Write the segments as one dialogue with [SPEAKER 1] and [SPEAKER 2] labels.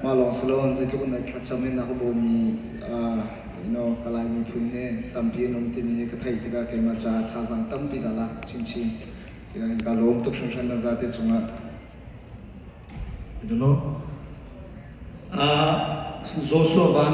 [SPEAKER 1] Mah lawng si loin zeitluk in thlacam hi na ka bawmi you know, ka Lai miphun he tampi an um timi hi ka theih tikah keimah caah thazaang tampi dah la chinchin. Tiah ka lawm tuk hringhran na zate cungah.
[SPEAKER 2] I don't know. Uh, Joshua Van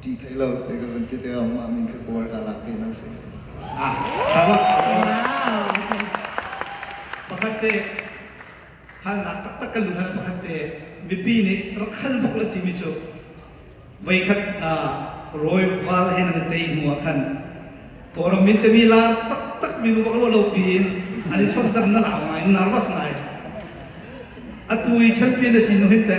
[SPEAKER 1] ṭih hlei lo te ka van ti te ah mah min khi puar ka lak pin an si. Ah, pakhat te halnak taktak
[SPEAKER 2] ka lu hal pakhat te mipi nih rak hal buk la timi cu veikhat rawi val hen an tei hnu ah khan Kawram min temi lar taktak mi bak lo lo piin an i chon dam na lau ngai narvas ngai atu i champion a sin no hin te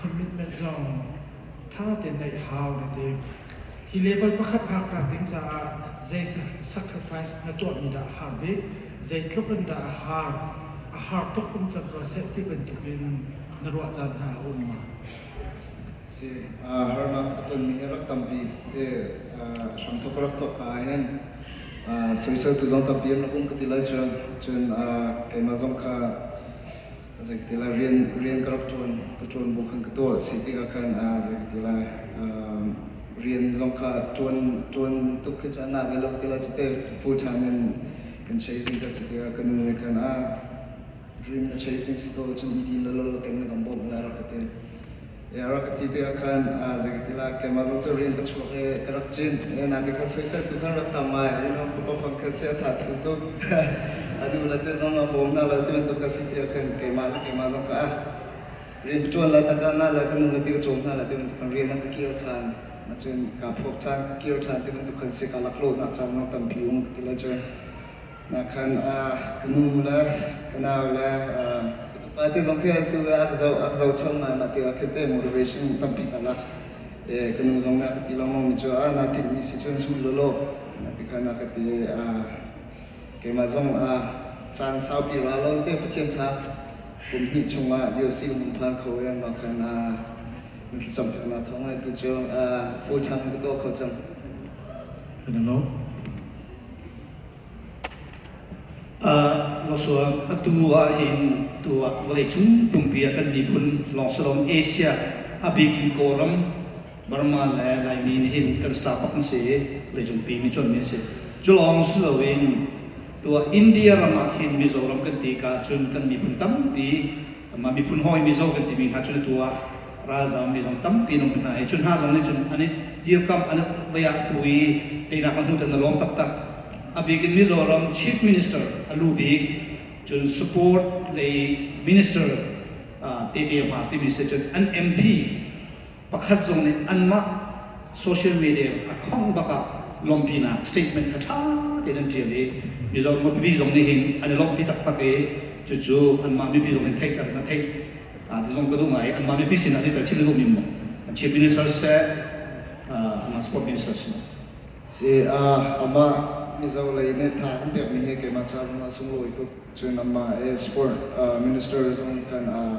[SPEAKER 3] commitment zong tha tein neih hau na ding. Hi level pakhat phak nak ding caah zei sacrifice na tuahmi dah a har bik, zei tluk in dah a har, a har tuk um cang ko seh ti bantuk in na ruah caan hna a um ma? Si, har nam ka tonmi hi rak tampi te
[SPEAKER 1] hramthok rak thok ka hin soisel tu zong tampi na um ka ti lai cun cun keimah zong kha Zeiti la rian rian ka rak ṭuan ka ṭuan bu khan ka tuah a si tikah khan ah zeiti la um, rian zong kha ṭuan ṭuan tuk khi cu a na ve lo ti la cu te full time in kan chasing ka si tikah ka nu nih khan a dream na chasing si ko cun i din lo lo kem na kan bawmh na rak ka ti rak ka ti te ah khan zegatinah keimah zong cu rian ka chuak i ka rak cin naite kha soiseltu kan rak tam ngai you know fapa fangkhat si a tha thu tuk a duh la te zong a bawm hna lo ti bantuk ka si ti ah khan keimah le keimah zong ka rian ka tuan la ta ka ngai la ka nu le ti ka cawm hna la ti bantuk kan rian a ka kir chan na cun ka phuak chan ka kir chan ti bantuk kan si ka laklawh nak chan zong tampi um ka ti la cu Nakhan ah ka nu le ka nau le um, ka pa te zong khi tu a ka zo a ka zo chom ngai ma ti a khete motivation tampi hna la e ka nu zong na ka ti longong mi chu a na thi mi si chun sul lo lo na ti khan na ka ti a keima zong a chan sau pi ra lo te pathian cha kum hnih chung ah bio si mun phan kho en ma khan a som thak na thong ai tu chu a full time ka to kho chang Hello.
[SPEAKER 3] Atu ahhin tu ah vawleicung pumpi ah kan miphun lawngsalawng Asia,
[SPEAKER 2] a bik in Kawlram, Burma le Laimi nih hin kan startup an si i vawleicungpi mi cuanmi an si. Cu lawng si loin tu ah India ram ah khin Mizoram kan ti ka ahcun kan miphun tampi amma miphun hawi mizo kan timi hna cu atu ah ralzam mi zong tampi an um hna hi cu hna zong nih cun an i dirkamh an vei ah tu i teinak a hnu tan a lawm taktak a bik in mizoram chief minister a lu bik cun support lei minister te te ma timi se cun an mp pakhat zong nih anmah social media a khawng bak ah lawmpinak statement kha ṭha tein an ṭial i mizo mipi zong nih hin an i lawmpi taktak i cucu anmah mipi zong in theihter na theih a ti zong ka duh ngai i anmah mipi sinah si tal chim na duhmi maw an chief minister seh anmah sport minister seh si
[SPEAKER 1] uh, amah mizo lei nih tha an pekmi hi keimah ca zong a sunglawi tuk cun amah e sport uh, minister zong kan uh,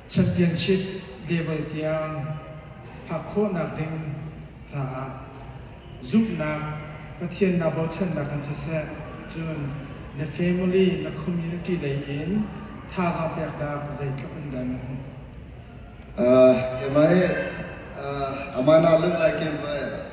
[SPEAKER 3] championship level tiang phak khawhnak ding caah zumhnak Pathiannak bochannak kan siseh cun na family na community lei in thazaang peknak zeitluk in dah na hmuh uh, kemai
[SPEAKER 1] uh, amana lunglai kemai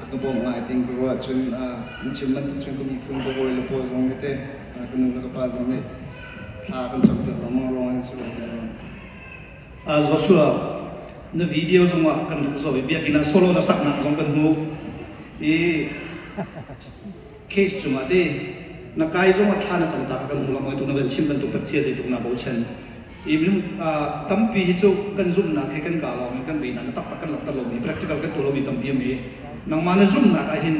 [SPEAKER 1] a ka bawm ngai ting ka ruah cun na chim bantuk cun ka miphun ka hawi le pawl zong nih te ka nu le ka pa zong nih thla kan cam piak lengmang ruang in si lo Joshua
[SPEAKER 2] na video zongah kan rak zaw i biakinn ah solo na saknak zong kan hmu i case cungah te na kai zong a thla na cam ta kha kan um lam oitu na kan chim bantuk tak thia zeitluk na bochan i minung tampi hi cu kan zumhnak he kan ka lawng i kan beihnak na taktak kan langhter lomi practical kan tuah lomi tampi ami nangmah na zumhnak ah hin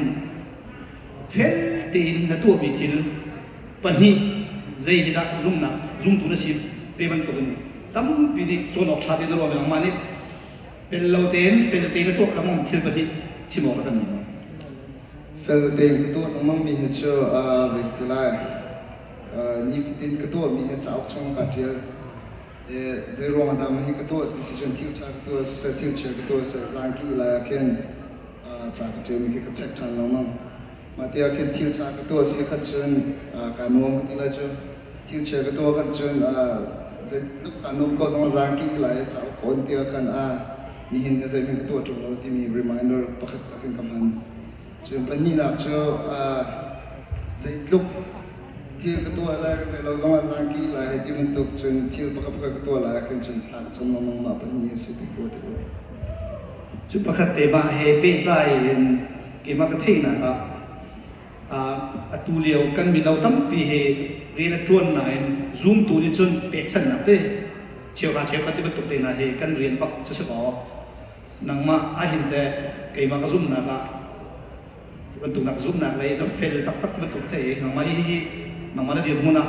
[SPEAKER 2] fel tein na tuahmi thil pahnih zei hi dah zumhnak zumtu na si ve bantukin tampi nih cawn awk ṭha te na ruah nangmah nih pel lo tein fel tein na tuak lengmang thil pahnih chim awk a kan
[SPEAKER 1] Fel tein ka tuah lengmangmi hi cu zei ti lai nifatin ka tuahmi hi cauk chung kaa ṭial. Zeiruang ah dah mah hi ka tuah ti si cun thil ṭha ka tuah siseh thil chia ka tuah siseh zaangki lai ah khin ca ka ṭialmi khi ka check ṭhan lengmang. Mah tiah khin thil ṭha ka tuah si khat cun kaa nuam ka ti lai cu. thilchia ka tuah kan cun zeitluk an um ko zong zaan ki lai cauk kawn ti kan a nihin he zeihmin ka tuah ṭung lo timi reminder pakhat ka kan ka hman cun pahnihnak cu zeitluk thil ka tuah lai ka zei lo zong ah zaan ki lai ti bantuk cun thil pakhat pakhat ka tuah lai kan cun thlak cun longmang mah pahnih si ti kuwa ti kuwa
[SPEAKER 2] cu pakhat te mah he pehtlai in kima ka theihnak ah atu lio kan mino tampi hi rian a ṭuan nain zumtu nih cun pekchanhnak te cheu hna cheu khat ti bantuk te hna hi kan rian bak cu si maw nangmah ahin te keimah ka zumnak ah bantuknak zumnak lei na fel taktak bantuk te nangmah hi nangmah na dirhmun ah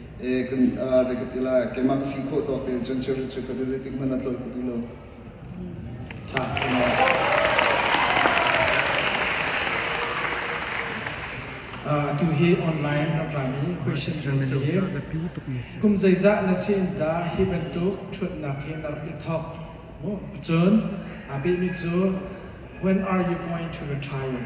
[SPEAKER 1] keimah ka si khawh tawk tein cun chirhri cu ka ti zeitik hmanh a tlolh ka duh lo. Ṭha,
[SPEAKER 3] tuhi online ramrami question kan si kum zeizah na sin dah hi bantuk ṭhutnak hi na rak i thok mu cun a behmi cu when are you going to retire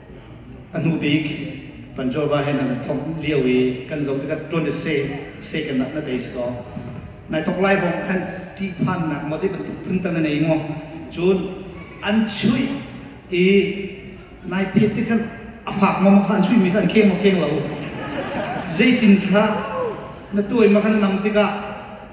[SPEAKER 2] A hnu bik Van Jorva he nan thongh lio i kan zoh tikah ṭuan le se second ah na tei si kaw nai thok lai hawng khan ṭih phannak maw zei bantuk phuntan na nei ngawh cun an chuih i nai pet ti khan a fak maw kha an chuihmi kha an kheng maw kheng lo zeitin thlah na tuai ma khan nang tikah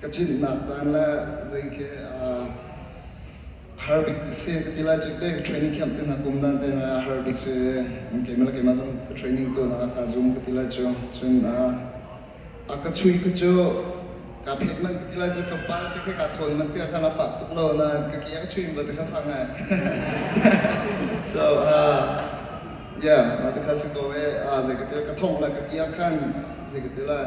[SPEAKER 1] ka cinnak dan le zei khi har bik si ka ti lai cu ka training camp te hna kum dan te na har bik si keimah le keimah zong ka training tu na ka zoom ka ti lai cu cun a ka chui ka cu ka phet man ka ti lai cu thawpa te ka ka thawl man te kha na fak tuk lo na ka kiang chuin ba te kha fang ai so uh yeah ma te kha si ko e a zei ka ti ka thong la ka ti khan zei ka ti lai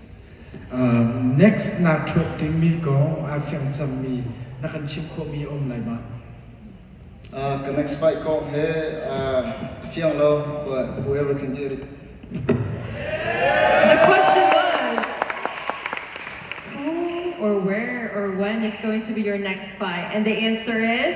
[SPEAKER 3] Next naa ṭhuat timi kong aa fiang cangmi na kan chim khawhmi a um lai ma?
[SPEAKER 1] Ka next fight kong he a fiang lo, but whoever can hear it. The
[SPEAKER 4] question was, who or where or when is going to be your next fight? And the answer is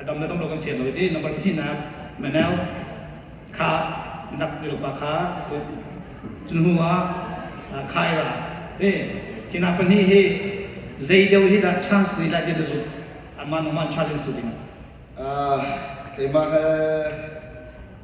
[SPEAKER 2] a dam le dam lo kan fian lo i number pahnihnak Manel kha nak ilopa kha cun hnu ah khai ra hi hinak pahnih hi zei deu hi dah chance ni lai na zumh anman ongman challenge tu ding keimah he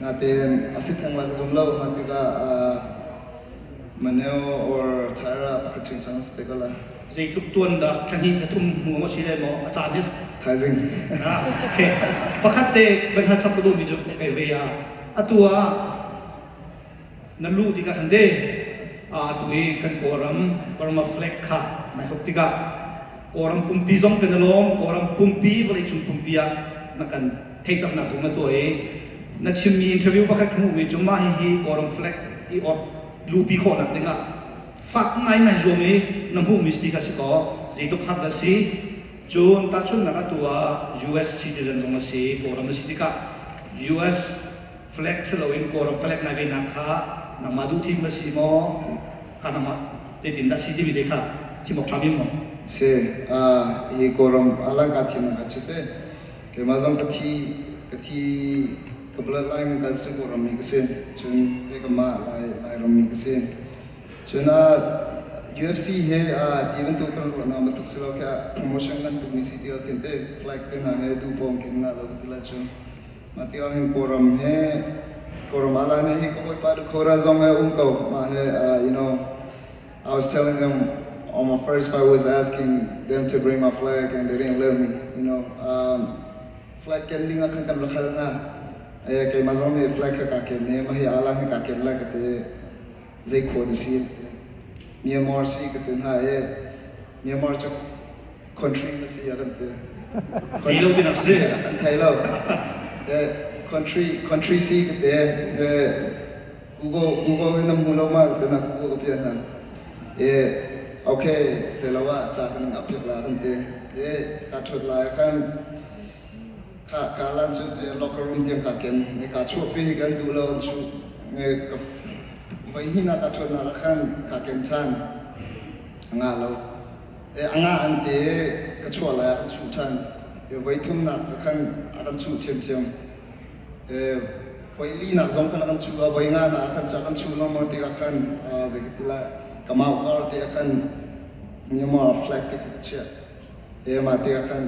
[SPEAKER 1] Natein a sit theng lai ka zum lo. Hman tikah Maneo or Tyra pakhat ching chang se ko la. Zeitluk tuan
[SPEAKER 2] dah thlahnih thatum mu si le maw a caan hi. Thaizing.
[SPEAKER 1] Ah, okay.
[SPEAKER 2] Pakhat te ban ha chap ka duhmi cu kai ve ya. Atu ah nan luh tikah khan de atu i kan kawlram Burma flag kha nai hop tikah kawlram pumpi zong kan i lawm kawlram pumpi vawlei cung pumpi ah na kan theihtaknak zong na tuah i na chimmi interview pakhat kan hmuhmi cu mah hihi kawlram flag i ot luhpi khawhnak dingah fak ngaingai zuam i na hmuhmi ti kha si kaw zeitluk har dah si cun tahchunhnak atu ah US citizen zong a si kawlram na si tikah US flag si loin Kawlram flag nai venak kha nangmah duh thim na si maw ka nangmah tetin dah si timi te kha chim awk ṭha mi maw se
[SPEAKER 1] hi Kawlram alang ka thiam ka chit te keimah zong ka thi ka thi ka bla lai ngang kan Singapore ram mi ka si cun pe ka ma lai lai ram mi ka si cun UFC he ti bantuk kan ruah na batuk si lo kha promotion kan tuk mi si ti al khin te flag te hna he du pong kin na lo ti la chu Mah ti ahhin Kawlram he Kawlram ah lainai hi ka hawipa le Kawlra zong he um ko mah he uh, you know I was telling them on my first flight was asking them to bring my flag and they didn't let me you know um, flag ken ding ah khan kan rakhal na eh keimah zong nih flag ka ka ken ne ma hi ala ni ka ken la ka te zai kho ni si Myanmar si ka te na eh Myanmar cha
[SPEAKER 2] country a
[SPEAKER 1] si a kan ti. Country lo pinak si kan thei lo. Country country si kan te Google Google in mu lo ma kana Google ka pian na eh okay selawa cha kan ap pyak la kan te eh ka thot la kan ka ka lan chu locker room tiang ka ken ne ka chu pi kan du lo chu ne ka vai ni na ka thot na kan ka ken chan nga lo a ngah an te ka chuah lai ah ka chuh ṭhan voi thumnak ka khan a kan chuh ṭhiamṭhiam voi linak zong kan kan chuh a voi nga na kan cha kan chuh no mo te ka khan zei ka ti lai kamau kar te ka khan nyoma flag te ka chia e ma te ka khan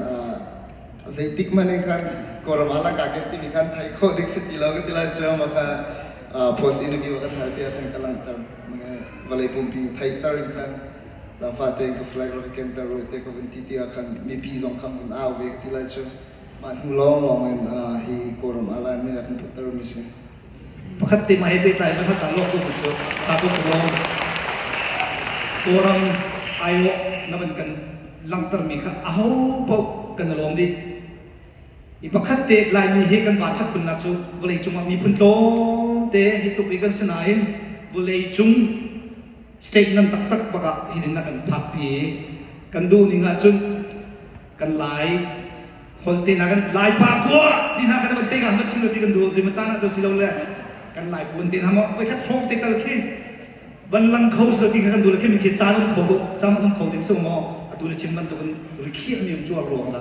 [SPEAKER 1] zei tik mane khan koram ala ka ke ti mi khan thai kho dik se ti lo ka ti lai cha ma kha post interview ka thai te khan ka lang tar vale pumpi thai tar in khan Zangfah tein ka flag rak kenter ui te ka vun ti ti ah khan mipi zong khan vun au ve ka ti lai cu mah hnu lawng lawng in hi kawlram ah laan nih a kan putter mi si pakhat te
[SPEAKER 2] ma he pehtlai pakhat ah lawk ko cu sa ko lawng kawlram aio na ban kan langhter mi kha aho paoh kan lawm dih i pakhat te laimi hi kan va that kun nak cu vawlei cung ah miphun tlawm te hi tluk i kan sinain vawlei cung State ngan taktak bak ah hin in a kan phakpi i kan duh ning ahcun kan lai holte na kan lai pa kua ti hna kan ban tega ma thil ti kan duh zima caan ahcun si lo le kan lai puan te hna mo voi khat hrawng te tal khi van lang kho si ti kha kan dula khi mi khi caan um kho cam um kho ding su mo adula chim ban tu kan rikhiah mi um chuar ruang da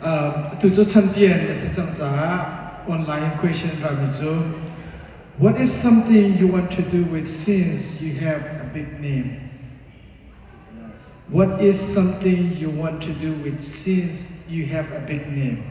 [SPEAKER 3] Atu cu chanpian a si cang caah online question an rami cu What is something you want to do with since you have a big name? What is something you want to do with since you have a big name?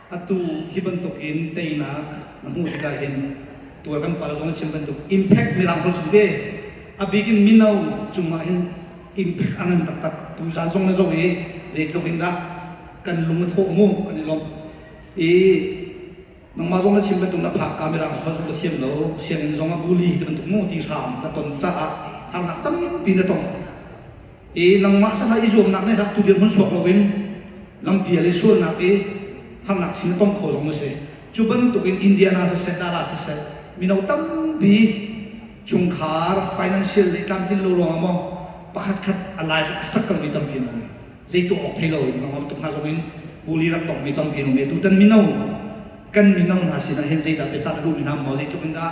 [SPEAKER 2] atu hi bantukin teinak na hmuh tikah hin tuar kan pal zong na chim bantuk impact mirang zong chim ve a bigin mino cungah hin impact a ngan taktak tu zan zong na zong i zeitluk in dah kan lung a thawh mu kan i lomh i nangmah zong na chim bantuk na phak ka mirang zong zong na thiam lo sianginn zong a bully ti bantuk mu ti hram na ton caah harnak tampi na tong i nangmah sakah i zuamnak nih hlaktu dirhmun chuak loin lampi ah le sualnak i harnak sin a tong kho zong na si cu bantukin indiana siseh dala siseh mino tampi chungkhar financial nih tlamtlin lo ruangah maw pakhat khat a life a sakkalmi tampi na um zei tuah awk thei lo in nangmah tuk hna zongin puli rak tongmi tampi na um i tutan mino kan mino hna sinah hin zeidah biacah na duhmi hna maw zeitluk in dah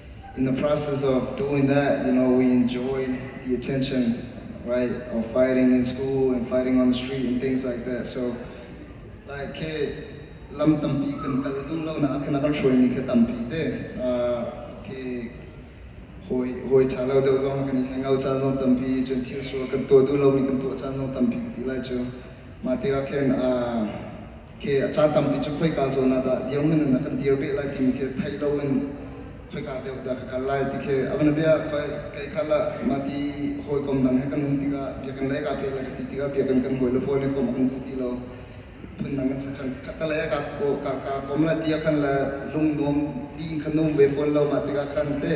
[SPEAKER 1] in the process of doing that, you know, we enjoy the attention, right, of fighting in school and fighting on the street and things like that. So, like, ke lam tampi kan tal tung lo na kana kan hruai mi ka tampi te ke hoi hoi tha lo deuh zong kan i hangout caan zong tampi cun thil sual kan tuah duh lo mi kan tuah caan zong tampi ka ti lai cu ma ti ah khin khi a caan tampi cu khoika zawn ah dah dirhmun in a kan dir beh lai timi khi theih lo in khoika deuh dah ka kal lai ti khi a van bia khoi kei khal ah mati hawikom dang he kan um tikah biakan lei ka pe lai ka ti tikah biakan kan hawi le hawi le kom a kan duh ti lo phun dang kan si cang ka ta le ka ka ka kom la tia khan la lung nuam ti khan um ve phone lo ma tikah khan te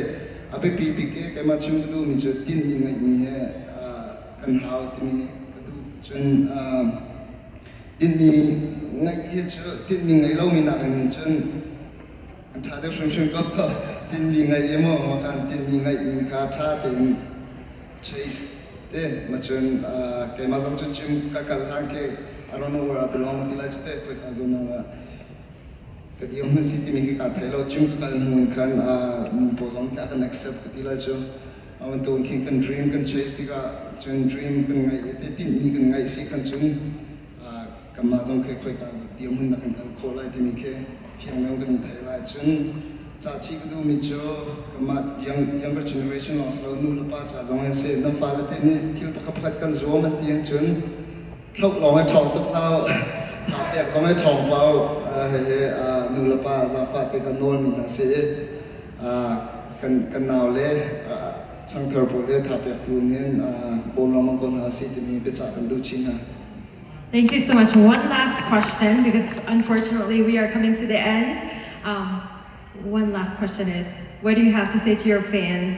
[SPEAKER 1] a pe pi pi ke keima chim ka du mi cu tin mi ngai mi he kan hau timi ka du cun tinhmi ngeih hi cu tinhmi ngeih lomi nakin hin cun a ṭha deuh hrimhrim ko tinhmi ngeih i maw ma kan tinhmi ngeihmi kha ṭha tein chase te macun keimah zong cu gym ka kal hlan ke I don't know where I belong ti lai cu te koi ka zon na ka dir hun si timi ki ka thei lo gym ka kal hnu in khan mi pawl zong ka kan accept ka ti lai cu tu khi kan dream kan chase tikah cun dream kan ngaih i tinhmi kan ngaih si kan cun kanmah zong khi khoika dirhmun dah kan kal khawh lai timi khi fiangnem kan thei lai cun caci ka duhmi cu kanmah younger generation lawng si lo nu le pa ca zong an si na fale te nih thil pakhat pakhat kan zuam a ti an cun Tluk lawng a ṭhawng tuk lo. Hngakpiak zong a ṭhawng ko. Hihi nu le pa zaangfahte kan nawlmi hna si i kan kan naule changthar pawl he thapiaktu nih bawm lengmang ko hna si timi biacah kan duh chin hna. Thank you
[SPEAKER 4] so much. One last question because unfortunately we are coming to the end. Um, one last question is, what do you have to say to your fans?